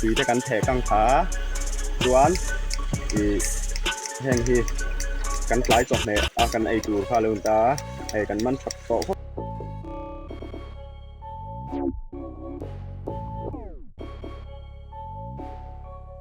tui te kan theh kang kha chuan ih heng hi kan tlai chawp hneh a kan ei tur kha a lo ni ta a hei kan man phawt tawh vawt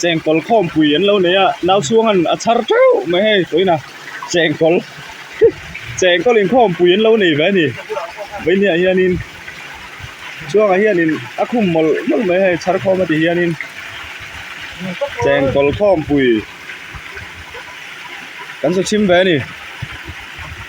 cheng kawl khawm pui an lo nei a nau chuang an a char teuh mai hei pawnah cheng kawl hi cheng kawl in khawm pui an lo nei ve a ni vei ni ah hian in chuang ah hian in a khum mawlh mawlh mai hei char khawm a ti hian in cheng kawl khawm pui kan hre chhim ve a ni.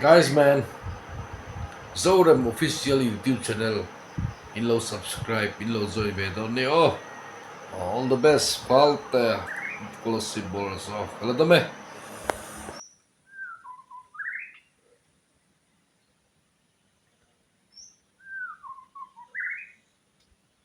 Guys man Zorem official YouTube channel in lo subscribe in lo join ve dawn ni aw all the best falte policy balls aw ka la dam e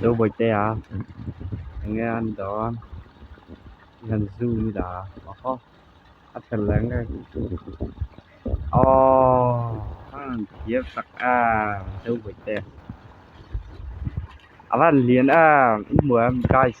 Lo bawihte a eng nge a ni lo a i han zoom i la a oho a fel leh ngek aww han thiam tak a lo bawihte a van lian a engmawia guys.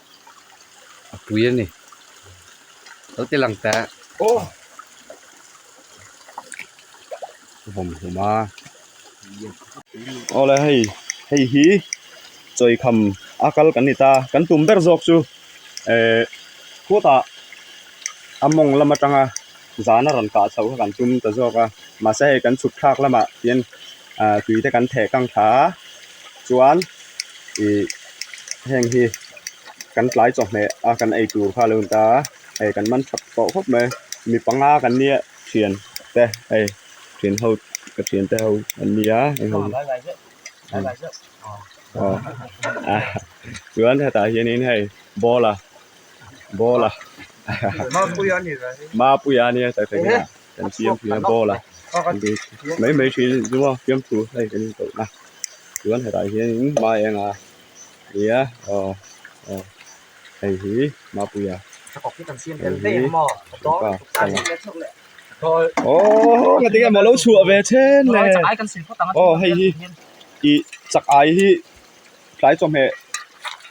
a pui a ni kal te lang ta oh bom huma ole hei hei hi choi kham akal kan ni ta kan tum ber zawk chu eh khutah amawng lam atanga zana rawn kah chhoh kha kan tum ta zawk a mahse hei kan chhupthlak lamah hian ahh tui te kan theh kang thla a chuan ihh heng hi kan tlai chawhmeh a kan ei tur kha a lo ni ta a hei kan man chhap tawh khawp mai mi panga kan ni a thian te hei thian ho ka thian te ho an ni a eng ho chuan hetah hianin hei ball a. ball a mapuia ania mapuia ania sai sai ka kan siam thina ball a mai mai thin zuma siam thu hlai kan in tawh na tuan hetah hian in mai anga ia o o hei hi mapuia hei hi ka sang o nga tinga malo chhuah ve chen le o hei hi i chak ai hi tlai chawhmeh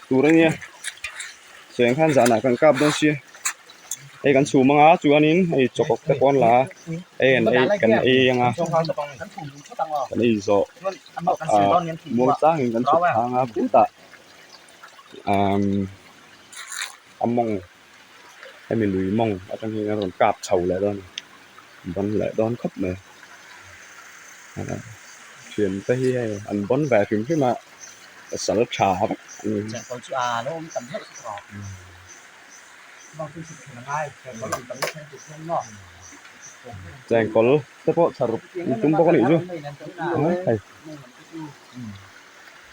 tur a nia seng khan zanah kan kap dawn sia hei kan chhum anga chuanin hei chawhkawk te pawh an la a en en kan ei ang a kan ei zawh ah mawi tlangin kan chhuk thlanga putah umm a mawng-- hemi lui mawng atang hian a rawn kap chho leh dawn a ni bawm leh dawn khawp mai ah thiam te hi hei an bawn ve hrim hrim a a sal tha vak a ni chengkawl te pawh tha ruk an tum bawk a nih chu hei.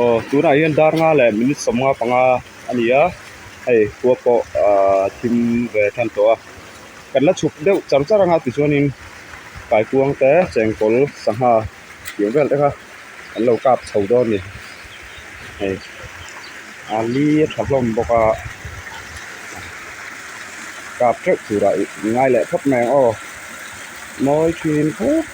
aw tunah hian dar nga leh minute sawmnga panga a ni a hei khua pawh ahh thim ve a then tawh a kan la chhuk deuh char char anga tichuanin kaikuang te chengkawl sangha tih ang vel te kha an lo kap chho dawn a ni hei ali a tha hlawm bawk a kap teuh tur ah i ngai leh phawt mai ang aw mawi thin puk.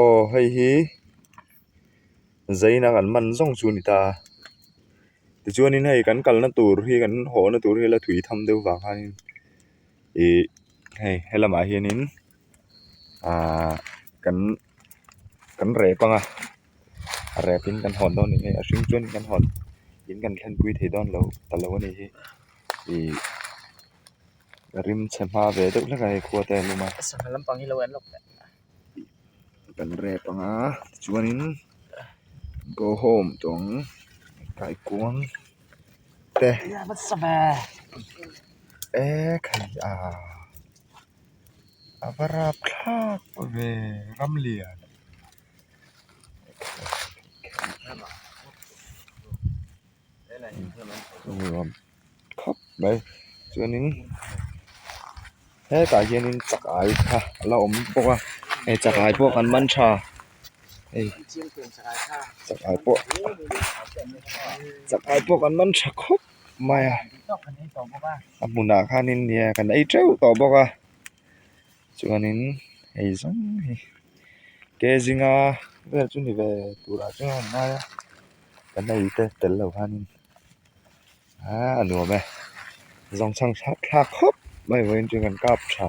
aw hei hi zaina kan man zawng chu a ni ta tichuan in hei kan kalna tur hi kan haw na tur hi la tui tham deuh vang khan in ihh hei helamah hian in-- aaa kan kan rep anga a repin kan hawn dawn nih hei a hring chuan kan hawn in kan thanpui thei dawn lo ta lo a ni hi ihh ka rim chhe hma ve deuh hlek a hei khuate an awm a kan rep anga tichuanin go home tawh ang kaikuang te eekkh hei aaa. a va rap thlak ve ramlian nuam khawp mai chuanin hetah hianin chakai kha a la awm bawk a he chakai pawh kan man tha hei chakai pawh chakai pawh kan man tha khawp. mai a a hmunah khanin nia kan ei teuh tawh bawk a chuanin hei zawng hi ke zinga vel chu ni ve tura chuan a ngai a kan ei te tel lo khanin aa a nuam e zawng chhang thlak khawp mai vawin chu kan kap tha.